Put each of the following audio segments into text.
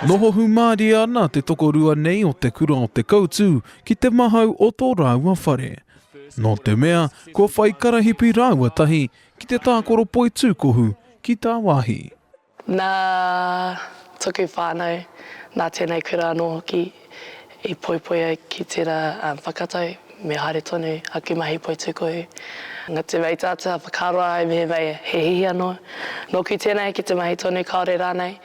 Noho hūmārie ana te tokorua nei o te kura o Te Koutu ki te mahau o tō rāua whare. Nō te mea, kua whai karahipi rāua tahi ki te tākoro poitūkohu ki tāwāhi. Nā tōku whānau, nā tēnei kura anō hoki i poipoi au ki tērā whakatau me haere tonu aku mahi poutūkohu. Nā te mei tātou, whakaroa ai mehemea he hihi anō nōku tēnei ki te mahi tonu kāore rānei.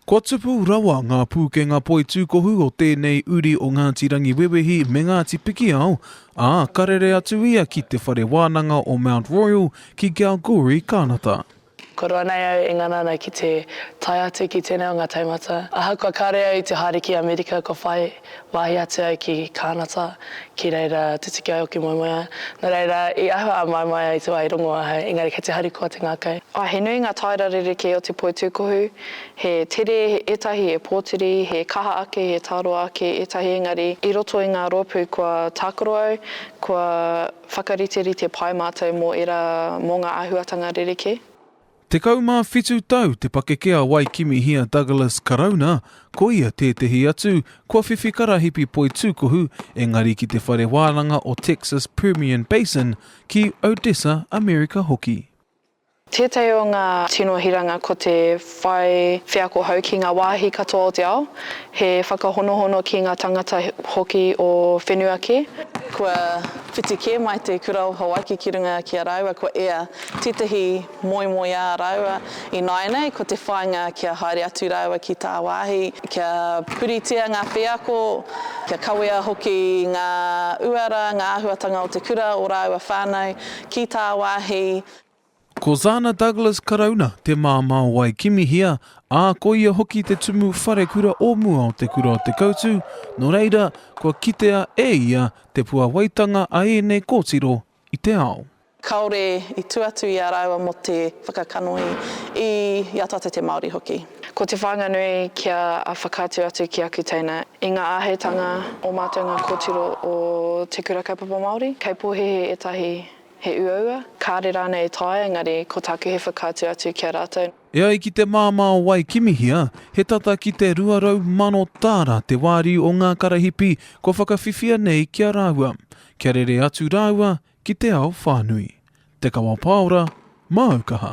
Kua tupu rawa ngā pūkenga poitūkohu o tēnei uri o Ngāti Rangiwewehi me Ngāti Pikiao, ā, ka rere atu ia ki Te Whare Wānanga o Mount Royal ki Kalgoorlie, Kānata. Kua roa nei au e ngana ana ki te tae atu ki tēnei o ngā taumata. Ahakoa kāore au i te haere ki Amerika kua whai wāhi atu au ki Kānata ki reira tutuki ai oku moemoeā. Nō reira, i ahua a Maemaia i te wā i rongo ahau, engari kei te haru koa te ngākau. Ā, he nui ngā taera rerekē o te poi tūkohu, he tere, ētahi he pōtiri, he kaha ake, he tāroa ake, ētahi engari i roto i ngā rōpū kua tākaro au, kua. Whakariterite pai mātou mō ērā mō ngā āhuatanga rerekē. Tekau mā whitu tau te pakeke a Waikimihia Douglas Karauna, ko ia tētehi atu kua whiwhi karahipi poi tūkuhu engari ki te whare wānanga o Texas Permian Basin ki Odessa Amerika hoki. Tētahi o ngā tino hiranga ko te whai wheako hou ki ngā wāhi katoa o te ao, he whakahonohono ki ngā tangata hoki o whenua kē. Kua whiti kē mai te Kura o Hawaiki ki runga ki a rāua kua ea tētahi moemoeā rāua i nāianei ko te whāinga kia haere atu rāua ki tāwāhi kia puritia ngā wheako, kia kawea hoki ngā uara, ngā āhuatanga o te kura, o rāua whānau Ki tā wāhi. Ko Zana Douglas Karauna te māmā o Waikimihia, ā, ko ia hoki te tumu wharekura o mua o Te Kura o Te Koutu, nō reira, kua kitea e ia te puāwaitanga a ēnei kōtiro i te ao. Kāore i tū atu i a rāua mō te whakakanohi i a tātou te Māori hoki. Ko te whāinga nui kia whakaatu atu ki aku teina, i ngā āheitanga o mātou ngā kōtiro o Te Kura Kaupapa Māori, kei pōhēhē ētahi he uaua, kāre rānei i taea engari ko tāku he whakaatu atu ki a rātou. E ai ki te māmā o Waikimihia, he tata ki te 200,000 tāra te wāriu o ngā karahipi kua whakawhiwhia nei ki a rāua, kia rere atu rāua ki te ao whānui. Te Kawa Paora, Māu Kaha.